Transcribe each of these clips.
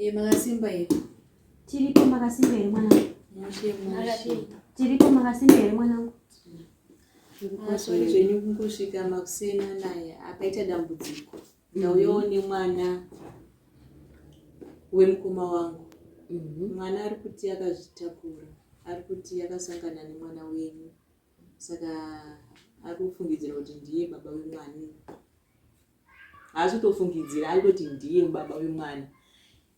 Eh, makasimba here tiripo makasimba here mwanangu tiripo makasimba here mwanangu asori ah, zvenyu kungosvika makusena naye apaita dambudziko ndauyawo mhm. nemwana wemukoma wangu mhm. mwana ari kuti akazvitakura ari kuti akasangana nemwana wenyu saka ari kufungidzira kuti ndiye baba wemwana haasi kutofungidzira ari kuti ndiye baba vemwana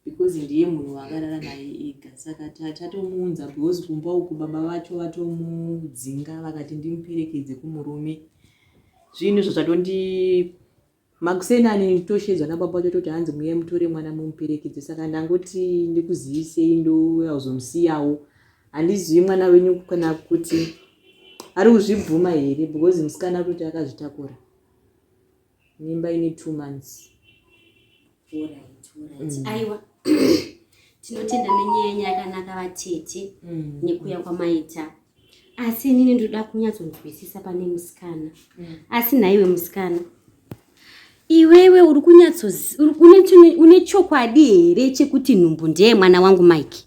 because ndiye munhu wakarara naye ega saka tatomuunza because kumba uku baba vacho vatomudzinga vakati ndimuperekedze kumurume zvinhu izvo zvatondi makuseni ani toshedzwa nababa vacho toti hanzi muye mutore mwana mumuperekedze saka ndangoti ndikuzivisei ndouya kuzomusiyawo handizivi mwana wenyu kana kuti ari kuzvibvuma here because musikana kuti akazvitakura mimba ine two months mm. aiwa tinotenda nenyaya yenyu yakanaka vatete mm. nekuya kwamaita asi inini ndoda kunyatsonzwisisa pane musikana mm. asi nhaiwe musikana iwewe uri kunyatsoune chokwadi here chekuti nhumbu ndeye mwana wangu mike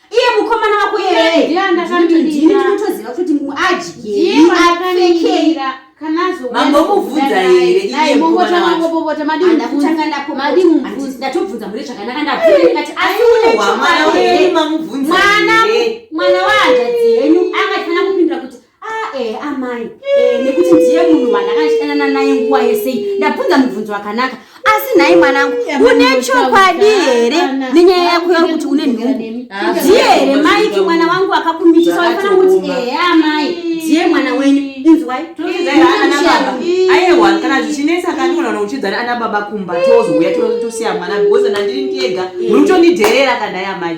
iye mukomana wako yeeandakatoziva kuti adyiapfekei mambomubvunza here ndatobvunza mune zvakanaka ndabvunzati asiunemwana wahanzvadzi henyu angatifanira kupindura kuti Ah, eh, amai eh, nekuti ndiye munhu wandakashanana naye nguva yesei ndabvunza mubvunzo wakanaka asi nhai mwanangu une chokwadi here nenyaya yako yari kuti une nhumbu ndiye here maiki mwana wangu akakumitisa waifana kuti ehe eh, amai ndiye mwana wenyu inzwai aiwa kana zvichinetsa kandiona kuti uchidzana ana baba kumba tozouya tosiya mwana because nandiri ndiega uri kutondidherera kanhai amai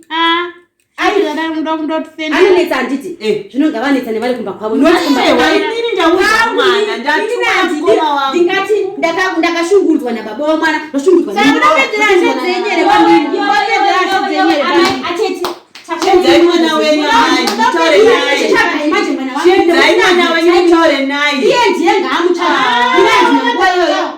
ah, anonetsa handiti eh. zvino ngavanetsa nevari kumba kwavo ndingati ndakashungurudzwa nababa wamwana ndoshungurudzwa ndiye ndiye ngaamuchaa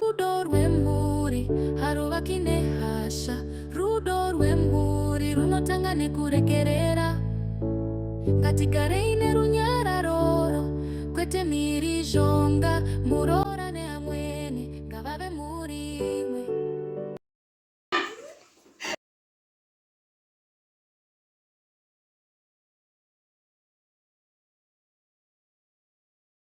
Rudo rwemhuri haruvaki nehasha. Rudo rwemhuri runotanga nekuregerera. Ngatigarei nerunyararoro kwete mhirizhonga. Muroora neamwene ngavave mhuri imwe.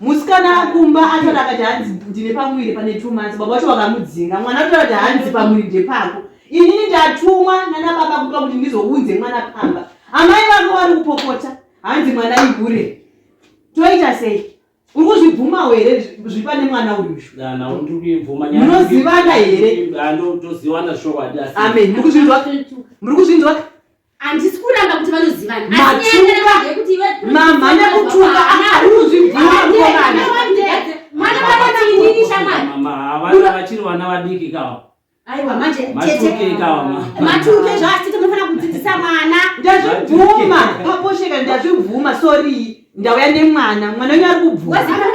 musikana akumba atoti akati hanzi ndine pamuviri pane two months baba vacho vakamudzinga mwana atoti akati hanzi pamuviri ndepako inini ndatumwa nana baba kupa kuti ndizounze mwana pamba amai vako vari kupopota hanzi mwana ihure toita sei uri kuzvibvumawo here zviri pane mwana uyumunozivana here amen muri kuzvinzwa handisi kuramba kuti vanozivana mamhanya mutunga arikuzvibvumavana vachiri vana vadiki kawa aiwa manje tete matuke zvaatete munofanira kudzidzisa mwana ndazvibvuma paposheka ndazvibvuma sorii ndauya nemwana mwana wenyu ari kubvusara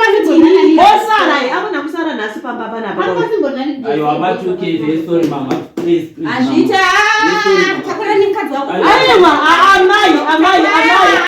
amuna kusara nhasi pamba panapazviita takura nemukadzi wako aiwa amai amai amai